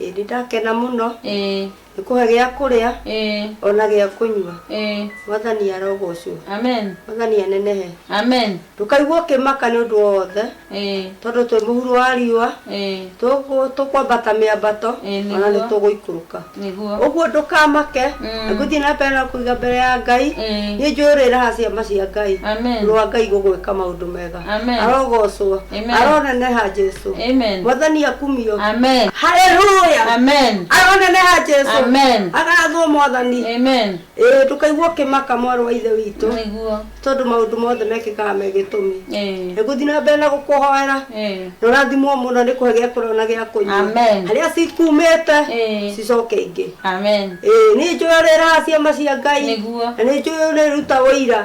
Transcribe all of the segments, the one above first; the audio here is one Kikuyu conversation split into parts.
Ĩĩ nĩ ndakena mũno. Ĩĩ. Nĩ kũhe gĩa kũrĩa. Ĩĩ. O na gĩa kũnyua. Ĩĩ. Mwathani arogocwo. Amen. Mwathani anenehe. Amen. Ndũkaigue ũkĩmaka nĩ ũndũ o wothe. Ĩĩ. Tondũ twĩ mũhuro wa riũa. Ĩĩ. Tũgũ, tũkwambata mĩambato. Ĩĩ, nĩguo. O na nĩ tũgũikũrũka. Nĩguo. Ũguo ndũkamake. Mm. Na ngũthiĩ na mbere na kũiga mbere ya Ngai. Ĩĩ. Nĩ njũĩ ũrĩraha ciama cia Ngai. Amen. Mũrũ wa Ngai gũgwĩka maũndũ mega. Amen. arogocwo Amen. aroneneha jesu Amen. mwathani akumio Amen. haleluya Amen. aroneneha jesu Amen. agathwo mwathani Amen. ĩĩ ndũkaigua ũkĩmaka mwarĩ wa ithe witũ Nĩguo. tondũ maũndũ mothe mekĩkaga me gĩtũmi Eh. nĩgũthiĩ na mbere na gũkũhoera Eh. na ũrathimwo mũno nĩ kũhe gĩa kũrĩa na gĩa kũnyua Amen. harĩa cikumĩte Eh. cicoke ingĩ Amen. ĩĩ nĩ njũĩ ũrĩraha ciama cia ngai Nĩguo. na nĩ njũĩ ũrĩruta ũira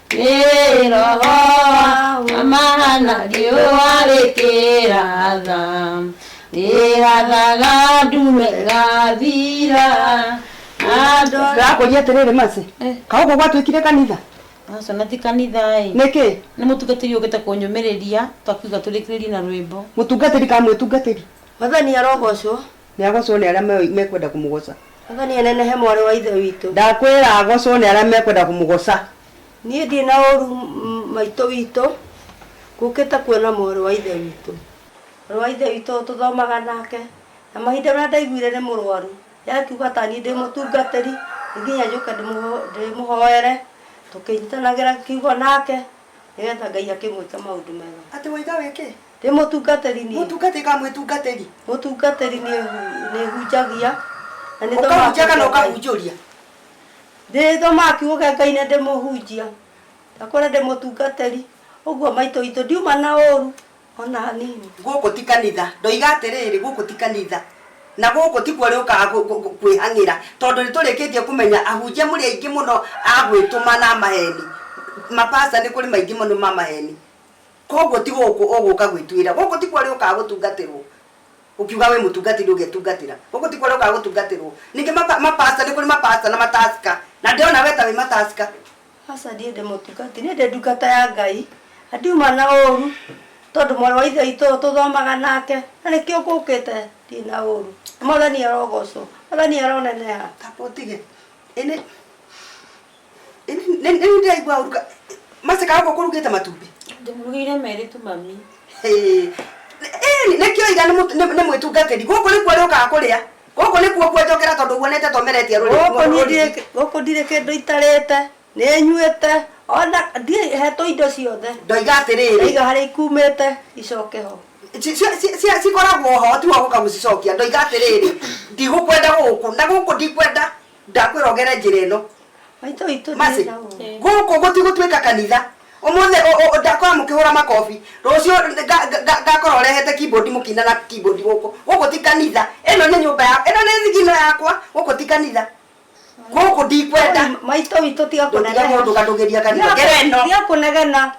Kĩroho amahana riũa rĩkĩratha rĩrathaga ndume gathira andũ ndakũria atĩrĩrĩ maci kaũguo gwatuĩkire kanitha aca na ti kanitha-ĩ nĩkĩ nĩ mũtungatĩri ũkĩte kũnyũmĩrĩria twakiuga tũrĩkĩrĩrie na rwĩmbo mũtungatĩri ka mwĩtungatĩri Mwathani arogocwo. Nĩagocwo nĩ arĩa mekwenda kũmũgoca. Baba nĩenenehe mwarĩ wa Ithe witũ. Ndakwĩra agocwo nĩ arĩa mekwenda kũmũgoca. Niĩ ndirĩ na ũru maitũ witũ. Ngũkĩte kuona mwarĩ wa Ithe witũ. Mwarĩ wa Ithe witũ tũthomaga nake. Na mahinda marĩa ndaiguire nĩ mũrwaru. Nĩ akiuga ta niĩ ndĩ mũtungatĩri. Nĩ nginya njũke ndĩmũhoere. Tũkĩnyitanagĩra kiugo nake. Nĩgetha Ngai akĩmwĩke maũndũ mega. Atĩ waitha wĩ kĩ? Ndĩ mũtungatĩri niĩ. Mũtungatĩri kana mwĩtungatĩri? Mũtungatĩri niĩ nĩhunjagia. na nĩ thomaga Ũkahunjia kana kiugo Ngai. ũkahunjũria? Ndĩ thomaga kiugo kĩa Ngai na ndĩmũhunjia. Ndakũra ndĩ mũtungatĩri. Ũguo maitũ witũ ndiuma na ũru ona hanini. Gũkũ ti kanitha. Ndoiga atĩrĩrĩ, gũkũ ti kanitha. Na gũkũ tikuo ũrĩũkaga kũ- kũ- kũ- kwĩhang'ĩra. Tondũ nĩtũrĩkĩtie kũmenya ahunjia mũrĩ aingĩ mũno a gwĩtũma na a maheni. Mapastor nĩ kũrĩ maingĩ mũno ma maheni. Kwoguo ti gũkũ ũgũũka gwĩtuĩra. Gũkũ tikuo ũrĩũkaga gũtungatĩrũo. Ũkiuga wĩ mũtungatĩri ndũgetungatĩra. Gũkũ tikuo ũrĩũkaga gũtungatĩrũo. Ningĩ ma, ma pastor, nĩ kũrĩ ma pastor na ma tasker. Na ndĩrona wee ta wĩ ma tasker. Aca ndirĩ ndĩ mũtungatĩri. Niĩ ndĩ ndungata ya Ngai. Na ndiuma na ũũru, tondũ mwarĩ wa Ithe witũ ũyũ tũthomaga nake. Na nĩkĩo ngũũkĩte. Ndirĩ na ũũru. Mwathani arogoocwo. Mwathani aroneneha. Kaba ũtige. Ĩĩ nĩ. rĩu ndĩraigua ũru ka- macaka gũkũ kũrugĩte matumbĩ ndĩmũrugĩire merĩ tu mami Ĩĩ, ĩĩ, nĩkĩo iga nĩ mũtu- nĩ- nĩ mwĩtungatĩri gũkũ nĩkuo rĩũkaga kũrĩa gũkũ nĩkuo kuonjokera tondũ guonete tomeretie rũrĩrĩ- gũkũ niĩ rũrĩrĩ. ndirĩ- gũkũ ndirĩ kĩndũ itarĩte nĩ nyuĩte ona ndirĩ hetwo indo ciothe ndoiga atĩrĩrĩ ndaiga harĩa ikumĩte icoke ho ci- ci- ci- ci- cikoragwo ho tiwa gũka gũcicokia ndoiga atĩrĩrĩ ndigũkwenda gũkũ na gũkũ ndikwenda ndakwĩra ũgere njĩra ĩno maitũ itũ Mercy, gũkũ gũtigũtuĩka kanitha ũmũthĩ ũ- ũ- ndakorwo mũkĩhũra makobi rũciũ nga- nga- nga- ngakorwo rehete keyboard mũkina na keyboard gũkũ gũkũ ti kanitha ĩno nĩ nyũmba ya ĩno nĩ thigino yakwa gũkũ ti kanitha gũkũ ndikwenda maitũ itũ tiga Ndũtiga kũnegena. mũndũ ũkandũgĩria kanitha. Tiga- Ngera ĩno. tiga kũnegena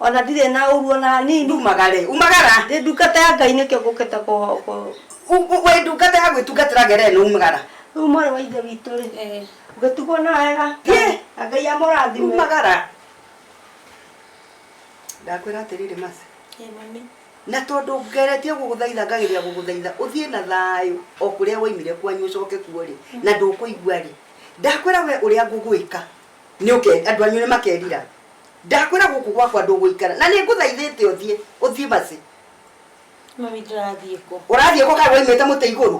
Ona ndirĩ na ũru ona hanini. Ndumaga rĩ, umagara? Ndĩ ndungata ya Ngai nĩkĩo ngũkĩte kũ... kũ- U- u- Wĩ ndungata ya gwĩtungatĩra ngere ĩno umagara? Rĩu mwarĩ wa ithe witũ rĩ, ũgĩtugwo na wega. Thiĩ. Na Ngai amũrathime. Umagara. Ndakwĩra atĩrĩrĩ Mercy, Ĩĩ mami. na tondũ ngeretie gũgũthaitha ngageria gũgũthaitha ũthiĩ na thayũ o kũrĩa waimire kwanyu ũcoke kuo rĩ na ndũkũigua rĩ ndakwĩra we ũrĩa ngũgwĩka nĩ ũke andũ anyu nĩ makerira Ndakwĩra gũkũ gwakwa ndũgũikara na nĩngũthaithĩte ũthiĩ. Ũthiĩ basi. Mami ndĩrathiĩ kũ? Ũrathiĩ kũ kaĩ waimĩte mũtĩ igũrũ?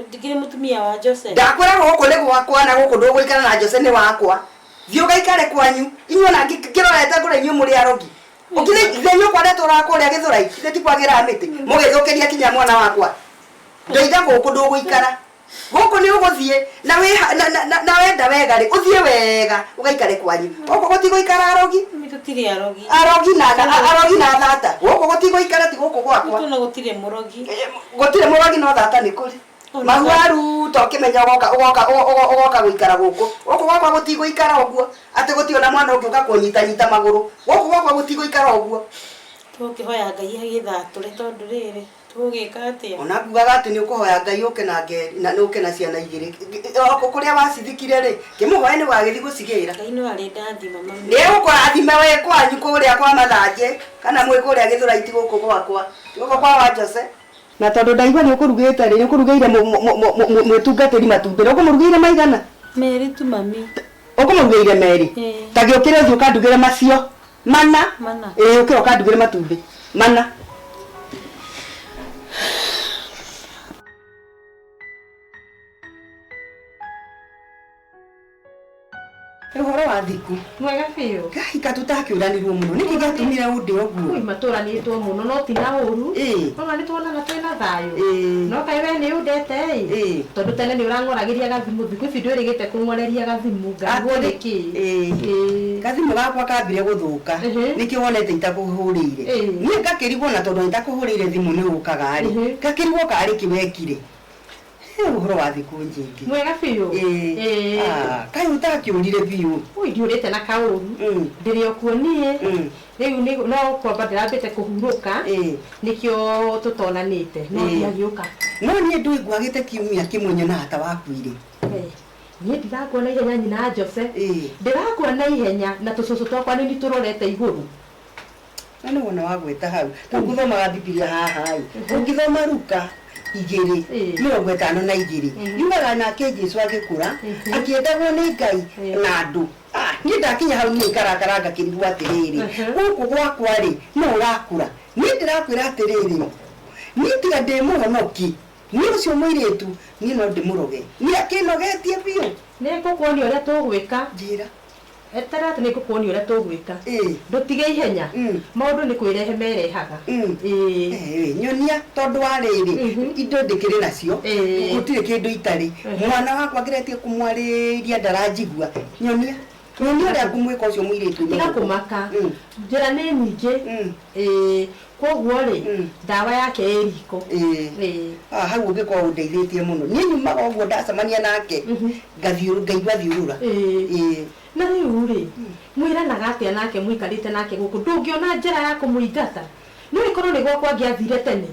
Ndikĩrĩ mũtumia wa Jose. Ndakwĩra gũkũ nĩ gwakwa na gũkũ ndũgũikara na Jose nĩ wakwa. Thiĩ ũgaikare kwanyu. Inyuĩ ona ngĩrorete ngore inyuĩ mũrĩ arogi. Ũkĩrĩ ithe nyũkwa ndatũraga kũrĩa Gĩthũrai? Ithe ti kwagĩra mĩtĩ? Mũgĩthũkĩria kinya mwana wakwa. Ndeitha gũkũ ndũgũikara. guku ni uguthie na wiha- na- na- na- na wenda wega ri uthie wega ugaikare kwanyu guku gutiguikara arogi Mami tũtirĩ arogi arogi na na- arogi na thata guku gutiguikara ti guku gwakwa tũna gũtirĩ mũrogi gutire murogi no thata ni kuri Ona mahuaru to kimenya ugoka ugoka ugo- ugoka guikara guku guku gwakwa gutiguikara uguo ati guti ona mwana ungi uka kunyita nyita maguru guku gwakwa gutiguikara uguo tũkĩhoya ngai agĩthatũre tondũ rĩrĩ Tũgwĩka atĩa? O na ngugaga atĩ nĩ ũkũhoya Ngai ũke na nge, na na ũke na ciana igĩrĩ. Ngĩ- o- o- Kũrĩa wacithikire rĩ, ngĩmũhoe nĩ ũgagĩthiĩ gũcigĩra. Ngai no arĩ ndathima mami. Nĩ egũkũrathima wĩ kwanyu kũrĩa kwa Mathanjĩ, kana mwĩ kũrĩa Gĩthũraiti gũkũ gwakwa. Ti gũkũ kwa Wanjose. Na tondũ ndaigua nĩ ũkũrugĩte rĩ, nĩ ũkũrugĩire mũ- mũ- mũ- mũ- mũ- mwĩtungatĩri matumbĩ. Na ũkũmũrugĩire maigana? Merĩ tu mami. Ũkũmũrugĩire merĩ? Ĩĩ. Ta gĩũkĩra ũthiĩ ũkandugĩre macio. Mana. Mana. Ĩĩ ũkĩra ũkandugĩre matumbĩ. Mana. Ũhoro wa thiku. Mwega biũ. Ngai ka tũtakĩũranirwo mũno. Nĩkĩ gĩatũmire ũndĩ ũguo? Ui matũranĩtwo mũno no ti na ũru. Ona nĩ tuonana twĩ na thayũ. No kaĩ we nĩ ũndete ĩ. Tondũ tene nĩ ũrang'oragĩria gathimũ thikũ ici ndwĩrĩgĩte kũng'oreria gathimũ. Ngaiguo nĩ kĩĩ? Ĩĩ. Gathimũ gakwa kambire gũthũka, nĩkĩo wonete itakũhũrĩire. Niĩ ngakĩrigwo na tondũ itakũhũrĩire thimũ nĩ ũkaga-rĩ, ngakĩrigwo kana arĩ kĩ wekire. Hĩ ũhoro wa thikũ njingĩ. Mwega biũ. Ĩĩ. Ah, kaĩ ũtakĩũrire biũ? Ũi ndiũrĩte na kaũru. Ndĩrĩ o kuo niĩ. Rĩu nĩ no kwamba ndĩrambĩte kũhurũka, nĩkĩo tũtonanĩte. No ndiagĩũka. No niĩ ndũĩ ngwagĩte kiumia kĩmwe nyonaga ta wakuire. Niĩ ndirakua na ihenya nyina Jose. Ĩĩ. Ndĩrakua na ihenya na tũcũcũ twakwa nĩ nitũrorete igũrũ. Na nĩ wona wa gweta hau. Rĩu ngũthomaga Bibilia haha-ĩ, ũngĩthoma Luka igĩrĩ, mĩrongo ĩtano na igĩrĩ, yugaga nake Jesu agĩkũra, akĩendagwo nĩ Ngai na andũ. Niĩ ndakinya hau niĩ ngarakara ngakĩrigwo atĩrĩrĩ, gũkũ gwakwa-rĩ, nũũ ũrakũra? Niĩ ndĩrakwĩra atĩrĩrĩ, niĩ tiga ndĩ mũhonoki, Niĩ ũcio mũirĩtu niĩ no ndĩmũroge. Nĩ akĩnogetie biũ. Nĩ ngũkuonia ũrĩa tũgwĩka. Njĩra. Eterera atĩ nĩ ngũkuonia ũrĩa tũgwĩka. Ĩĩ. Ndũtige ihenya. Mm. Maũndũ nĩ kwĩrehe merehaga. Mm. Ĩĩ. Ĩĩ. Nyonia tondũ wa rĩrĩ. Mhm. Indo ndĩkĩrĩ nacio. Ĩĩ. Gũtirĩ kĩndũ itarĩ. Ehe. Mwana wakwa ngeretie kũmwarĩria ndaranjigua. Nyonia. Nyonia ũrĩa ngũmwĩka ũcio mũirĩtu. Tiga kũmaka. Mm. Njĩra nĩ nyingĩ. Mm. Ĩĩ. Kwoguo rĩ, ndawa yake ĩ riko. Ĩĩ. Ah, hau ũngĩkorwo ũndeithĩtie mũno niĩ nyumaga ũguo ndacemania nake ngathiũrũ ngaigua thiũrũra Ĩĩ. Na rĩu rĩ, mwĩranaga atĩa nake mũikarĩte nake gũkũ? Ndũngĩona njĩra ya kũmũingata? No ĩkorwo nĩ gwakwa angĩathire tene.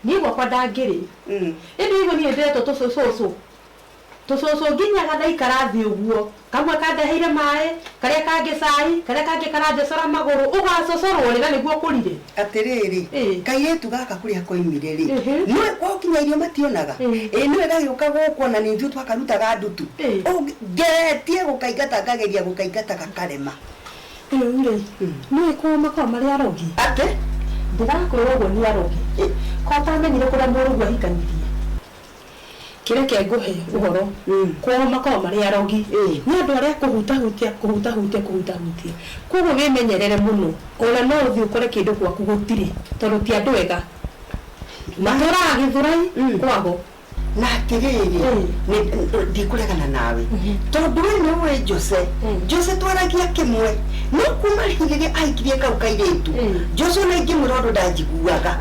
Niĩ gwakwa ndangĩrĩ. Ĩndĩ waigua niĩ nĩ ndĩretwo tũcũcũcũ. Tũcũcũ nginya gathaikara thĩ ũguo, kamwe kandeheire maĩ, karĩa kangĩ cai, karĩa kangĩ karanjecora magũrũ. Ũgaacocorũo rĩ na nĩguo ũkũrire? Atĩrĩrĩ, Ĩĩ. kairĩtu gaka kũrĩa koimire-rĩ, Ĩhĩ. nĩũĩ kwao nginya irio mationaga? Ĩĩ. Ĩĩ nĩũĩ gagĩũka gũkũ o na nĩ ithuĩ twakarutaga ndutu? Ĩĩ. Ũngĩ, ngeretie gũkaingata ngageria gũkaingata gakarema. Rĩu-rĩ, nĩũĩ kwao makoragwo marĩ arogi? Atĩ? Ndĩrakwĩra ũguo nĩ arogi. Ĩĩ. Korũo ũtamenyire kũrĩa mũrũguo ahikanirie. Kĩ reke ngũhe ũhoro, kwao makoragwo marĩ arogi, nĩ andũ arĩa kũhutahutia, kũhutahutia, kũhutahutia. Kwoguo wĩmenyerere mũno, o na no ũthiĩ ũkore kĩndũ gwaku gũtirĩ, tondũ ti andũ ega. Matũũraga Gĩthũrai kwao. Na atĩrĩrĩ, ndikũregana nawe, tondũ wee nĩ ũĩ Jose. Jose twaragia kĩmwe, no kuuma rĩu rĩrĩa ahikirie kau kairĩtu, Jose o na ingĩmwĩra ũndũ ndanjiguaga.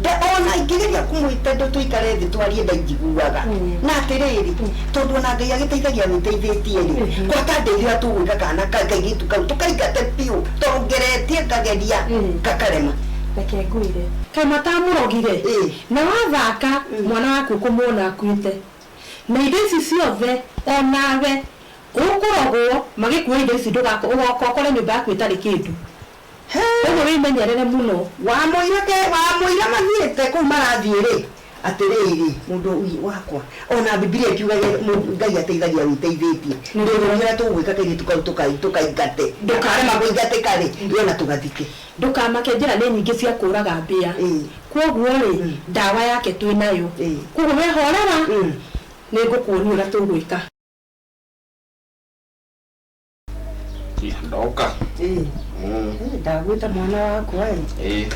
Nda- o na ingĩgeria kũmwĩta ndũ tũikare thĩ twarie ndainjiguaga na atĩrĩrĩ tondũ ona ngai agĩteithagia wĩteithĩtie-rĩ gwaka ndeithĩra tũgwĩka kana ka- kairĩtu kau tũkaingate biũ tondũ ngeretie ngageria gakarema reke ngwĩre kama ta mũrogire Ĩĩ. na wathaka mwana waku ũkũmuona akuĩte na indo ici ciothe onawe ũkũrogwo magĩkue indo ici ndũgako ũgoka ũkore nyũmba yaku ĩtarĩ kĩndũ Kwoguo wĩmenyerere mũno. Wamwĩra ke, wamwĩra mathiĩte kũu marathiĩ-rĩ, atĩrĩrĩ, mũndũ ũyũ wakwa, o na Bibilia ĩtiugaga Ngai ateithagia wĩteithĩtie. Ndũkore ũrĩa tũgwĩka kairĩtu kau tũkai, tũkaingate. Tũkarema kũingatĩka-rĩ, ĩ o na tũgathike. Ndũkamake njĩra nĩ nyingĩ cia kũũraga mbĩa. Kwoguo-rĩ, ndawa yake twĩ nayo. Kwoguo wee horera, nĩngũkuonia ũrĩa tũgwĩka. ndoka Eh, Mm, eh, ndagwĩte mwana wakwa ĩ eh,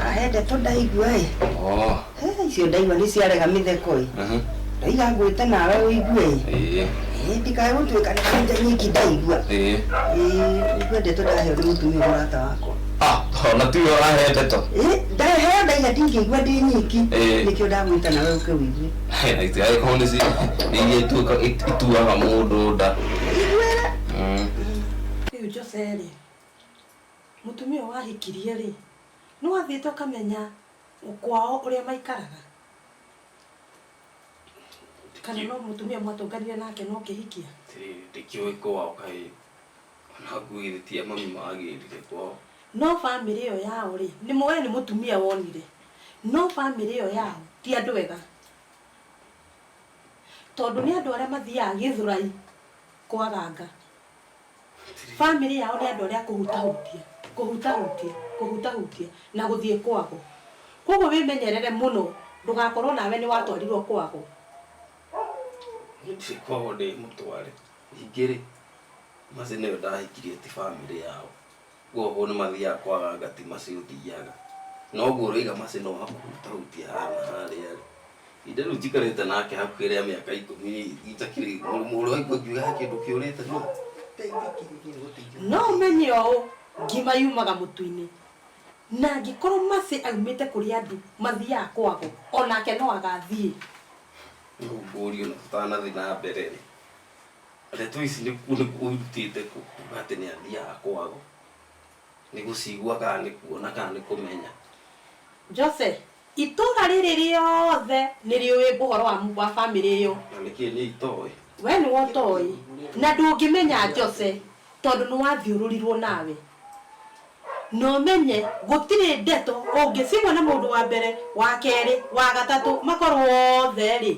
ahende tũ ndaigua ĩ oh, Eh, icio ndaigua nĩ ciarega mĩtheko ĩ mhm, ndaiga ngwĩte nawe ũigue ĩ eh, Eh, ndikae gũtuĩka nĩ kanja nyiki ndaigua eh. Eh, ngwende tũ ndaheo nĩ mũtumia mũrata wakwa Ah, ona tuyo ahete to Eh, ndaheo ndaiga ndingĩigua ndĩ nyiki Eh. nĩkĩo ndagwĩte nawe ũke ũigue angĩkorwo nĩ ci- nĩ iria ituĩka- it- ituaga mũndũ nda Igwĩre. Mm. Rĩu Jose-rĩ, mũtumia ũyũ wahikirie-rĩ, nĩwathiĩte ũkamenya kwao ũrĩa maikaraga? Kana no mũtumia mwatũnganire nake na ũkĩhikia? Ndikĩũĩ kwao kaĩ Ona nguo githĩ ti ya mami magĩrire kwao. No family ĩyo yao rĩ, nĩ we nĩ mũtumia wonire, no family ĩyo yao ti andũ ega. Tondũ nĩ andũ arĩa mathiaga Gĩthũrai kwaganga. Family yao nĩ andũ arĩa a kũhutahutia, kũhutahutia, kũhutahutia na gũthiĩ kwago. Kwoguo wĩmenyerere mũno ndũgakorwo nawe nĩ watwarirwo kwago. Niĩ ndirĩ kwago ndĩmũtware. Ningĩ-rĩ, Mercy nĩwe ndahikirie ti famĩlĩ yao. Kwoguo nĩmathiaga kwaganga ti Mercy ũthiaga. Na ũguo ũraiga Mercy no wa kũhutahutia haha na harĩa-rĩ, ihinda rĩu njikarĩte nake hakuhĩ rĩa mĩaka ikũmi itakĩrĩ ũraigua ngiuga he kĩndũ kĩũrĩte no ndeithĩkĩririe gũteithia. No ũmenye ũũ, ngima yumaga mũtu-inĩ. Na angĩkorwo Mercy aumĩte kũrĩ andũ mathiaga kwagwo, o nake no agathiĩ. Rĩu ngũrie ona tũtanathiĩ na mbere-rĩ, Ndeto ici nĩ kũ- nĩ kũ irutĩte kũ kuga atĩ nĩ athiaga kwao? Nĩ gũcigua kana nĩ kuona kana nĩ kũmenya? Jose, itũũra rĩrĩ rĩothe nĩ rĩũĩ ũhoro wa mu- wa famĩlĩ ĩyo. Na nĩkĩ niĩ itoĩ? We nĩwe ũtoĩ. Na ndũngĩmenya Jose tondũ nĩ wathiũrũrirwo nawe. Na ũmenye gũtirĩ ndeto ũngĩcigwa na mũndũ wa mbere, wa kerĩ, wa gatatũ makorwo othe-rĩ,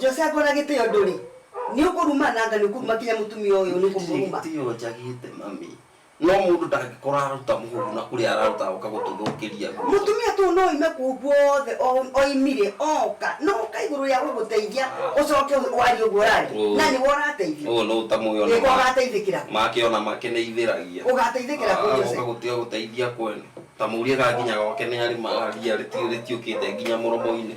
Jose akona gitio nduri ni ukuruma nanga ni ukuruma kinya mutumia uyu ni kumuruma gitio njagite mami no mundu ndangikora aruta muhuru na kuri araruta uka gututhukiria mutumia tu no ime ku guothe oimire oka no uka iguru ya guguteithia ucoke wari uguo rari na ni worateithio uyu no utamuyo ona iko gateithikira make ona make ni ithiragia ugateithikira ku Jose uka gutio guteithia kwene tamuria ga nginya gwake ni ari maria ritiukite nginya muromo-ini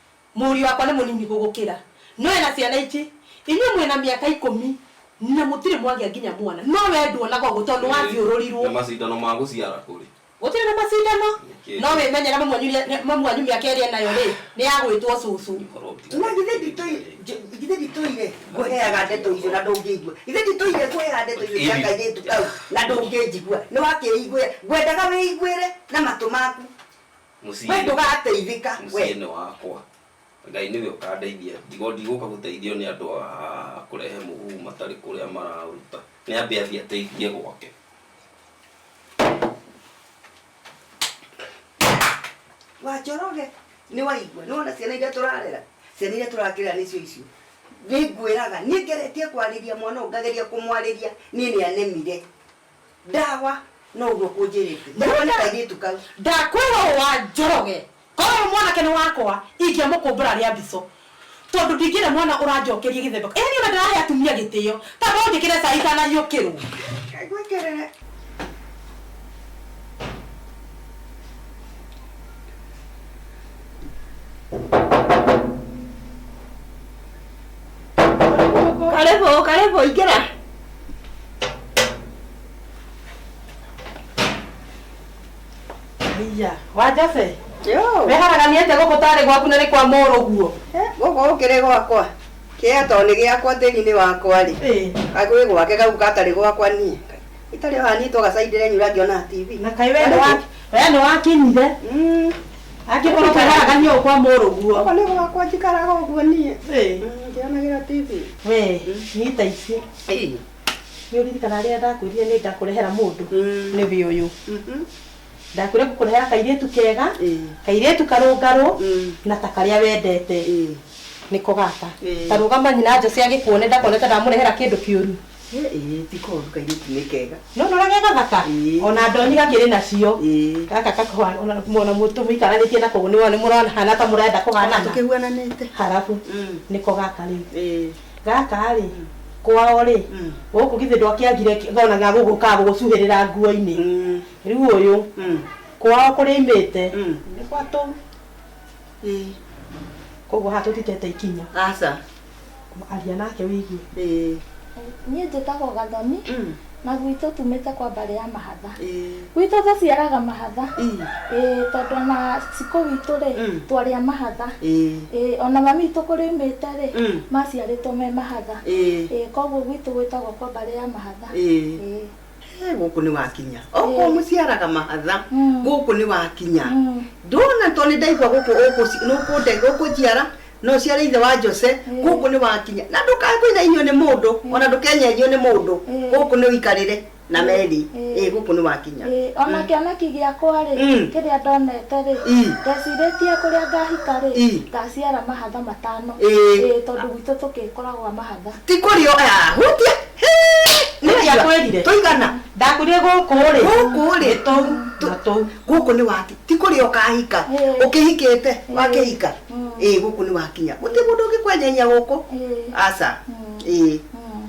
Mũriũ wakwa nĩ mũnini gũgũkĩra. No ena ciana ingĩ. Inyuĩ mwĩ na mĩaka ikũmi na mũtirĩ mwagĩa nginya mwana. No wee nduonaga ũguo tondũ nĩ wathiũrũrirwo. Na macindano ma gũciara kũrĩ? Gũtirĩ na macindano. Nĩkĩĩ? No wĩmenyere mamu wanyu nĩ, mamu wanyu mĩaka ĩrĩa enayo rĩ, nĩ ya gwĩtwo cũcũ. Ingĩkorwo gũtirĩ Na githĩ mũndũ nditũ, ũngĩthiĩ rĩ. njũ- githĩ nditũire ngũheaga ndeto icio na ndũngĩigua? Githĩ nditũire ngũheaga ndeto icio cia Ĩni. kairĩtu kau na ndũngĩnjigua? Nĩwakĩĩiguĩra. Ngwendaga wĩiguĩre na matũ maku. Mũciĩ. we ndũgateithĩka we mũciĩ nĩ wakwa ngai nĩwe ũkandeithia ndigo ndigũka gũteithio nĩ andũ a kũrehe mũhu matarĩ kũrĩa maraũruta nĩ ambe athiĩ ateithie gwake wa njoroge nĩ waigua nĩ wona ciana iria tũrarera ciana iria tũrakĩrera nĩcio icio nĩ ngwĩraga niĩ ngeretie kwarĩria mwana ũyũ ngageria kũmwarĩria niĩ nĩ anemire Ndagwa no ũguo kũnjĩrĩte. Ndagwa nĩ kairĩtu kau. Ndakwĩra ũũ wa Njoroge, korwo ũyũ mwanake nĩ wakwa, ingĩamũkũmbũra rĩa mbico. Tondũ ndingĩenda mwana ũranjokeria gĩthemba kĩu. Ĩhĩni ona ndĩrahe atumia gĩtĩo. Ta no njĩkĩre cai itanariũkĩrwo. Kaĩ ngwĩkĩrĩre. Karibu, karibu, ingira. Iya, wanjabe Yo. weharaganiĩte gũkũ tarĩ gwaku na nĩ kwa mũrũguo Gũkũ gũkĩrĩ gwakwa. Kĩa tondũ nĩ gĩakwa thĩinĩ wakwa rĩ. Kagwĩ gwake kau gatarĩ gwakwa niĩ. Itarĩ wanyitwo gacaindĩre nyura ngĩona TV. na kaĩ we nĩ wa- we nĩ wakinyire angĩkorwo ũkaigaraga niĩ ũkwa mũrũguo Ũguo nĩ gwakwa njikaraga ũguo niĩ. Ĩĩ. Mm, Ngĩonagĩra TV. we nyita ici Ĩĩ. nĩ ũririkana rĩrĩa ndakwĩrire nĩ ngakũrehera mũndũ Mm. nĩ wĩ ũyũ Mhm. ndakwĩre ngũkũrehera kairĩtu kega Ĩĩ. kairĩtu karũngarũ Mm. na ta karĩa wendete Ĩĩ. nĩko gaka Ĩĩ. tarũgama nyina njocia gĩkuone ndakonete ndamũrehera kĩndũ kĩũru ti koru kairĩtu nĩ kega no nora ge gathaka Ĩĩ. ona ndoni gakĩrĩ nacio Ĩĩ. gaka kakwana ona mwana mũtũ mũikaranĩtie nako nĩ wona mũrona hana ta mũrenda kũhanana tũkĩhuananĩte harabu Mm. nĩko gaka rĩu Ĩĩ. gaka rĩ kwao rĩ Mm. gũkũ githĩ ndwakĩagire gona ga gũgũka gũgũcuhĩrĩra nguo-inĩ Mm. rĩu ũyũ Mm. kwao kũrĩa imĩte Mm. nĩ gwatũ Ĩĩ. koguo haha tũtitete ikinya aca Aria nake wĩigue. Ĩĩ. Niĩ njĩtagwo Gathoni, Mm. na gwitũ tumĩte kwa mbarĩ ya mahatha. Ĩĩ. Gwitũ tũciaraga mahatha. Ii. Ĩĩ, tondũ ona cikũ witũ rĩ, Mm. twarĩ a mahatha. Ĩĩ. Ĩĩ, ona mami witũ kũrĩmĩte rĩ, Mm. maciarĩtwo me mahatha. Ĩĩ. Ĩĩ, koguo gwitũ gwĩtagwo kwa mbarĩ ya mahatha. Ĩĩ. Ĩĩ. Eh, gũkũ nĩ wakinya okorwo Eh. mũciaraga mahatha Mm. gũkũ nĩ wakinya Mm. ndona tondũ nĩ ndaigua gũkũ ũkũ- nũkũnde- ũkũnjiara no ũciare ithe wa jose Mm. gũkũ nĩ wakinya na ndũkakũinainio nĩ mũndũ ona ndũkenyenio nĩ mũndũ Mm. gũkũ nĩ ũikarĩre na meri Mm. ĩ gũkũ nĩ wakinya Ĩĩ, ona Mm. kĩoneki gĩakwa rĩ Mm. kĩrĩa ndonete rĩ Ii. ndecirĩtie kũrĩa ngahika rĩ Ii. ngaciara mahatha matano Ĩĩ. Ĩĩ, tondũ gwitũ tũkĩkoragwo mahatha ti kũrĩ o ah, hutia Nĩndiakwĩrire. tũigana ndakwire gũkũ rĩ Gũkũ rĩ. nĩ tũu Tũ- na tũu gũkũ nĩ wati ti kũrĩ ũkahika Eh. ũkĩhikĩte wakĩhika Eh. ĩĩ gũkũ nĩ wakinya gũtĩ mũndũ ũngĩkwenyenyia gũkũ Eh. aca ĩĩ Mm.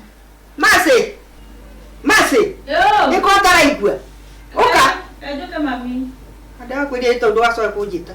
macĩ macĩ nĩ ko ataraigua ũka Njoke mami. ndakwĩria nĩ tondũ wacoe kũnjĩta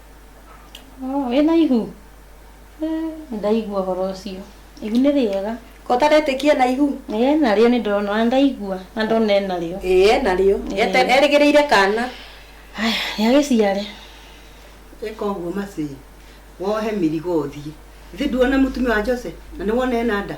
Oh, wĩna ihu Eh, ndaigua ũhoro ũcio ihu nĩ rĩega Ko ũtaretĩkia na ihu? Ĩĩ, narĩo nĩ ndĩrona ona ndaigua na ndona enarĩo Ĩĩ, enarĩo. Ete- Erĩgĩrĩire kana. haya nĩagĩciare ĩka ũguo macĩĩ wohe mĩrigo ũthiĩ ithĩ nduona mũtumia wa jose na nĩwona ena nda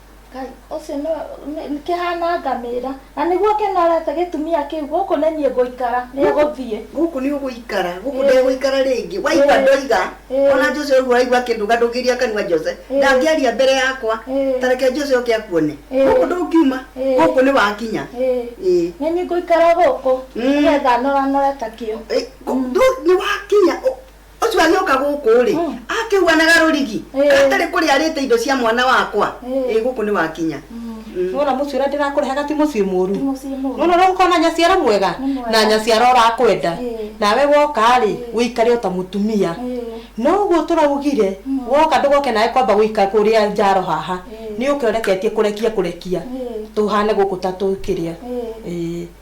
Ngai, ũcio nĩ nĩ- nĩ kĩhana ngamĩra na nĩguo kĩnorete gĩtumia kĩu gũkũ nĩ niĩ ngũikara nĩ gũthiĩ gũkũ nĩ ũgũikara gũkũ Ĩĩ. ndegũikara rĩngĩ waigua Ĩĩ. ndoiga Ĩĩ. ona jose ũguo waigua akĩnduga ndũngĩria kanua jose Ĩĩ. ndangĩaria mbere yakwa Ĩĩ. tareke jose oke akuone Ĩĩ. gũkũ ndũngiuma Ĩĩ. gũkũ nĩ wakinya Ĩĩ. Ĩĩ. nĩ niĩ ngũikara gũkũ Mm. nĩgetha noranore ta kĩo Ĩĩ, gũ- ndũ- nĩ wakinya ũ- ũcio agĩũka gũkũ rĩ Mm. akĩhuanaga rũrigi Eh. atarĩ kũrĩa arĩte indo cia mwana wakwa Eh. ĩ gũkũ nĩ wakinya Mm. nona muciĩ ũrĩa ndĩrakũrehaga ti muciĩ mũru Ti mũciĩ mũru. nona ũrĩa ũkorwo na nyaciara mwega Nĩ mwega. na nyaciara ũrakwenda Eh. nawe woka rĩ Eh. wĩikare ota mũtumia Eh. no ũguo tũraugire Mm. woka ndũgoke nawe kwamba gũika kũrĩa njaro haha Eh. nĩ ũke ũreketie kũrekia kũrekia Eh. tũhane gũkũ ta tũkĩrĩa Eh. Eh.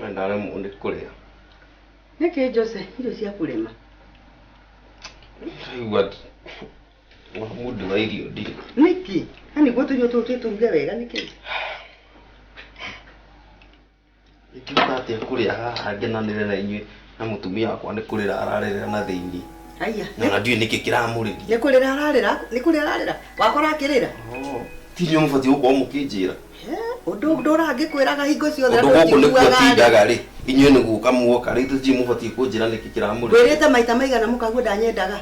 We ndaremwo nĩ kũrĩa. Nĩkĩ Jose, irio cia kũrema? Ndaigua wa mũndũ wa irio ndirĩ. Nĩkĩ? Na nĩguo tũirio tũtũ tũturuge wega nĩkĩ? Ingĩhota atĩa kũrĩa haha ngenanĩre na inyuĩ? Na mũtumia wakwa nĩ kũrĩra ararĩrĩra na thĩinĩ. Aiya. Na ona ndiũĩ nĩkĩ kĩramũrĩria. Nĩ kũrĩra ararĩra, nĩ kũrĩra ararĩra. Wakora akĩrĩra. Oh. Ti inyuĩ mũbatiĩ gũkorwo mũkĩnjĩra. Ũndũ ndũrangĩkwĩraga hingo ciothe andũ gũkũ nĩkuo tindaga rĩ inyuĩ nĩ gũka muoka rĩu tũtiĩ mũbatiĩ kũnjĩra nĩkĩ kĩramũrĩria. Wĩrĩte maita maigana mũkaguo ndanyendaga.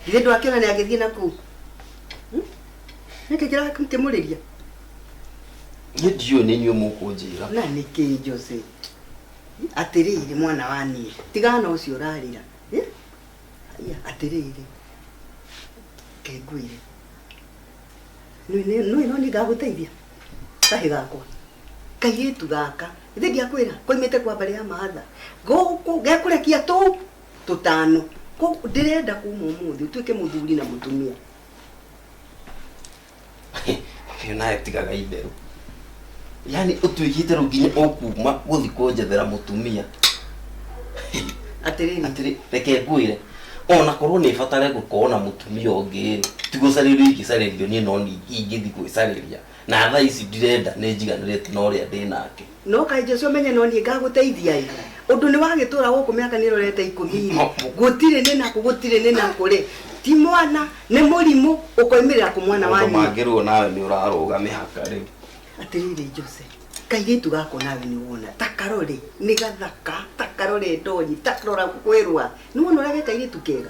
Githĩ ndwakĩona nĩ agĩthiĩ na kũu. Hmm? Nĩkĩ kĩramũrĩria? Niĩ ndiũĩ nĩ inyuĩ mũkũnjĩra. Na nĩkĩ Jose? Atĩrĩrĩ, mwana wa niĩ, tigana na ũcio ũrarĩra. Eh? Haiya, atĩrĩrĩ, ke ngwĩre. Nĩ- nĩ- nĩ no niĩ ngagũteithia kahĩ gakwa kairĩtu gaka ithe ndiakwĩra koimĩte kwa mbarĩ ya mahatha gũkũ gekũrekia tũu tũtano Kũ- ndĩrenda kuma ũmũthĩ ũtuĩke mũthuri na mũtumia Ũyũ nawe tigaga itherũ. Yaani ũtuĩkĩte rĩu nginya ũkuma gũthiĩ kũnjethera mũtumia. Atĩrĩrĩ. Atĩrĩ, reke ngwĩre. Ona korwo nĩ batare gũkorwo na mũtumia ũngĩ, ti gũcarĩrio ingĩcarĩrio niĩ no ingĩthiĩ gwĩcarĩria. Na thaa ici ndirenda nĩ njiganĩrĩte na ũrĩa ndĩ nake. No kaĩ Joshua ũmenye no niĩ ngagũteithia-ĩ. Ũndũ nĩwagĩtũra gũkũ mĩaka nĩrorete ikũmi-rĩ, gũtirĩ nĩ nakũ, gũtirĩ nĩ nakũ-rĩ, ti mwana, nĩ mũrimũ, ũkoimĩrĩra kũ mwana wa Mũndũ nyina? mangĩruo nawe nĩ ũrarũga mĩhaka rĩu. Atĩrĩrĩ Jose, kairĩtu gaka o nawe nĩwona, ta karore, nĩ gathaka, ta karore ndonyi, ta rora kwĩrũa. Nĩwona ũrĩa ge kairĩtu kega?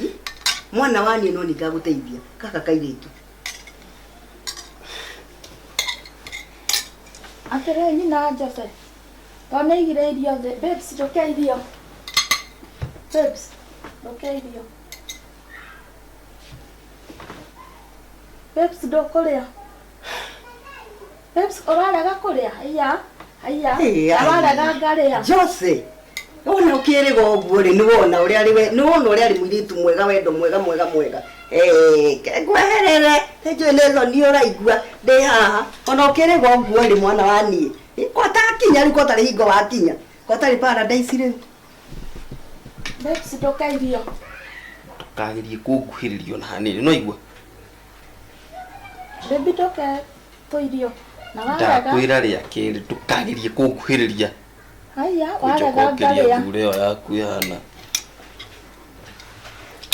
Ĩ, mwana wa niĩ no ningagũteithia kaka kairĩtu atĩrĩ nyina njose to nĩ igire irio thĩ babes njũke irio babes njũke irio babes ndũkũrĩa Babes, ũrarega kũrĩa? Haiya, haiya. Ĩĩ, ai. Ararega ngarĩa. Jose wona ũkĩrĩga ũguo rĩ nĩwona ũrĩa arĩ we- nĩwona ũrĩa arĩ mũirĩtu mwega wendo mwega mwega mwega Eh, ke- ngweherere nĩnjũĩ nĩ thoni ũraigua ndĩ haha ona ũkĩrĩga ũguo rĩ mwana wa niĩ Eh, kotakinya rĩu kotarĩ hingo wakinya kotarĩ paradise rĩu Babes, ndũkairio. ndũkagĩrie kũnguhĩrĩrio na hanini no igua Baby toke tũirio. Na wagetha. ndakwĩra rĩa kerĩ ndũkagerie kũnguhĩrĩria Haya, wagetha ũnjokokeria ngarĩa. mbura ĩyo yaku ĩhana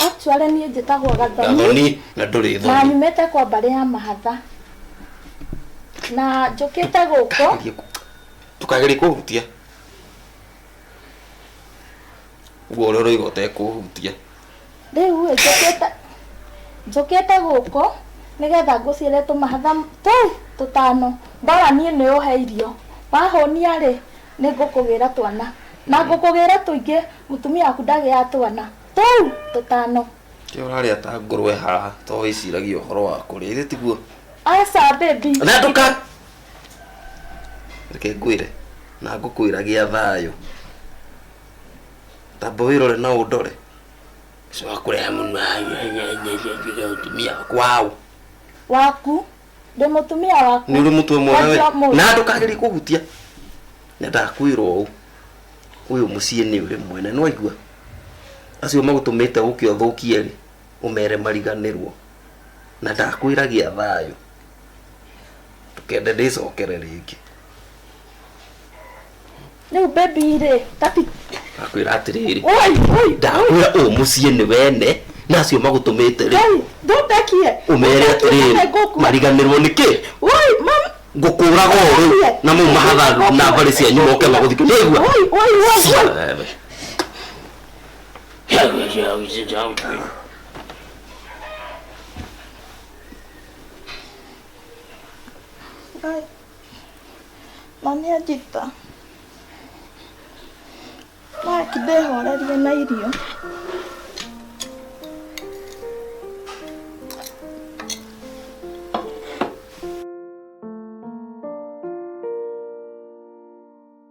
Actually niĩ njĩtagwo Gathoni. gathoni na ndũrĩ Na thoni nyumĩte kwa mbarĩ ya mahatha. Na njũkĩte gũkũ. Ndũkagerie kũ- ndũkagerie kũhutia ũguo ũrĩa ũroiga ũtekũhutia rĩu ĩ, njũkĩte njũkĩte gũkũ nĩgetha ngũciĩre tũmahatha tũu tũtano ndora niĩ nĩ ũhe irio wahũnia rĩ nĩ ngũkũgĩra twana na ngũkũgĩra tũingĩ mũtumia waku ndagĩaga twana tũu tũtano Kĩ ũrarĩa ta ngũrwe haha to wĩciragia ũhoro wa kũrĩa ithe tiguo aca baby na ndũka reke ngwĩre na ngũkwĩra gĩa thayũ tamba wĩrore na ũndore ũcio wakũreha mũnua mũtumia kwao waku ndĩ mũtumia waku nĩ ũrĩ mũtwe mwega we Kwanjia ũmũthĩ. na ndũkagerie kũhutia nyendaga kwĩrwo ũũ ũyũ mũciĩ nĩ ũrĩ mwene nwaigua acio magũtũmĩte ũkĩ ũthũkie rĩ ũmere mariganĩrwo na ndakwĩra gĩa thayũ ndũkende ndĩcokere rĩngĩ rä u bebi rä kati ndakwĩra atĩrĩrĩ Oi, oi, ndakwĩra ũũ mũciĩ nĩ wene na acio magũtũmĩte rĩ oi, ndũtekie ũmere atĩrĩrĩ mariganĩrwo nĩ kĩ oi mam ngũkũraga o rĩu na mau mahatha na mbarĩ cianyu moke magũthike nĩ aigua oi, oi, oi, oi. Wewe. Ai. Na nĩ anjita. Maki ndehorerie na irio.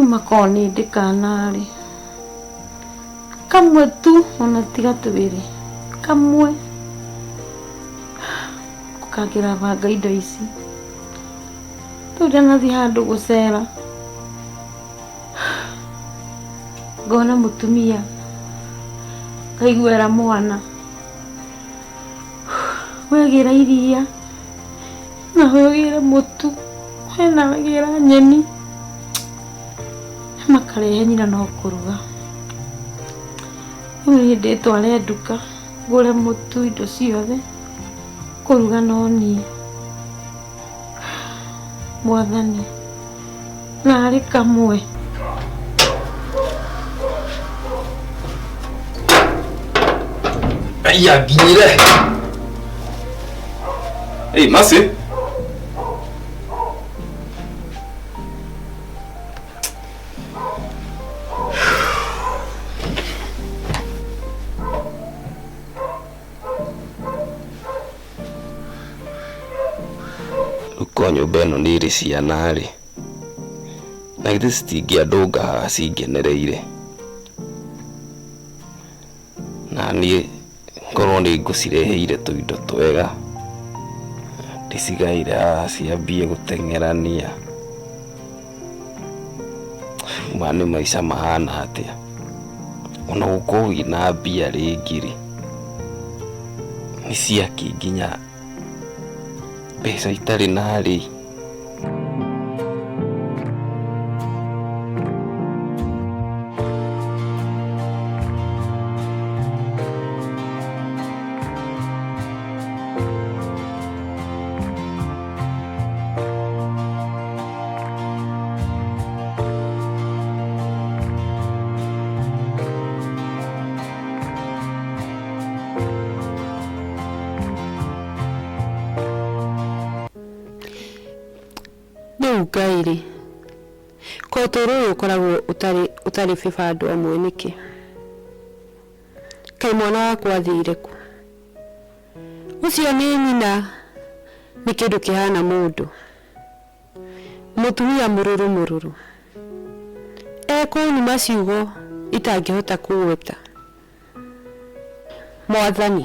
Uma korwo nĩ ndĩ kana-rĩ, kamwe tu ona tiga twĩrĩ, kamwe, ũkakĩrabanga indo ici. Rĩu ndanathiĩ handũ gũcera, ngona mũtumia, ngaigua era mwana, wegĩra iria, na huyo gĩre mũtu hena gĩra nyeni makarehe nyina no kũruga rĩu niĩ ndĩtware nduka ngũre mũtu indo ciothe kũruga no niĩ mwathani narĩ kamwe Aya nginyire. Hey, Masi. Rĩu korwo nyũmba ĩno nĩ ĩrĩ ciana rĩ, na githĩ citingĩandũnga haha cingenereire? Na niĩ ngorwo nĩ ngũcireheire tũindo twega, ndĩcigaĩre haha ciambie gũteng'erania. ma nĩ maica mahana atĩa ona gũkorwo wĩna mbia rĩngĩ rĩ nĩ ciaki nginya mbeca itarĩ na rĩ Rĩu Ngai-rĩ, ka ũtũũro ũyũ ũkoragwo ũtarĩ ũtarĩ bĩba andũ amwe nĩkĩ? Kaĩ mwana wakwa athire kũ? Ũcio nĩ nyina nĩ kĩndũ kĩhana mũndũ, mũtumia mũrũrũ mũrũrũ, ekũnuma ciugo itangĩhota kũgweta. Mwathani,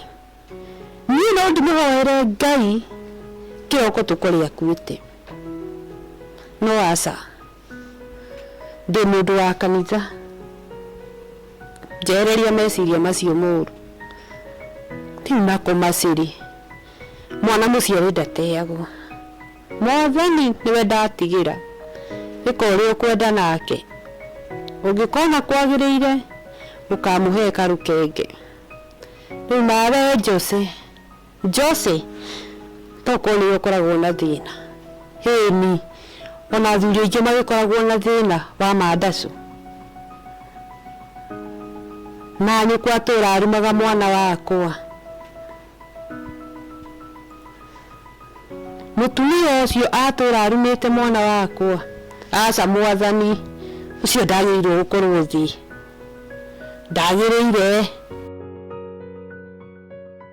niĩ no ndĩmũhoere Ngai kĩroko tũkore akuĩte? No aca. Ndĩ mũndũ wa kanitha, njehereria meciria macio moru. Rĩu na kũmacĩ rĩ, mwana mũciare ndateagwo. Mwathani nĩwe ndatigĩra, ĩka ũrĩa ũkwenda nake. Ũngĩkona kwagĩrĩire, ũkamũhe karũkenge. Rĩu nawe Jose. Jose, Tokorwo nĩwe ũkoragwo na thĩna. Ĩĩni, Ona athuri aingĩ magĩkoragwo na thĩna wa mandacu. Na nyũkwa atũũra arumaga mwana wakwa. Mũtumia ũcio atũũra arumĩte mwana wakwa. Aca mwathani, ũcio ndagĩrĩirwo gũkorwo thĩ. Ndagĩrĩire.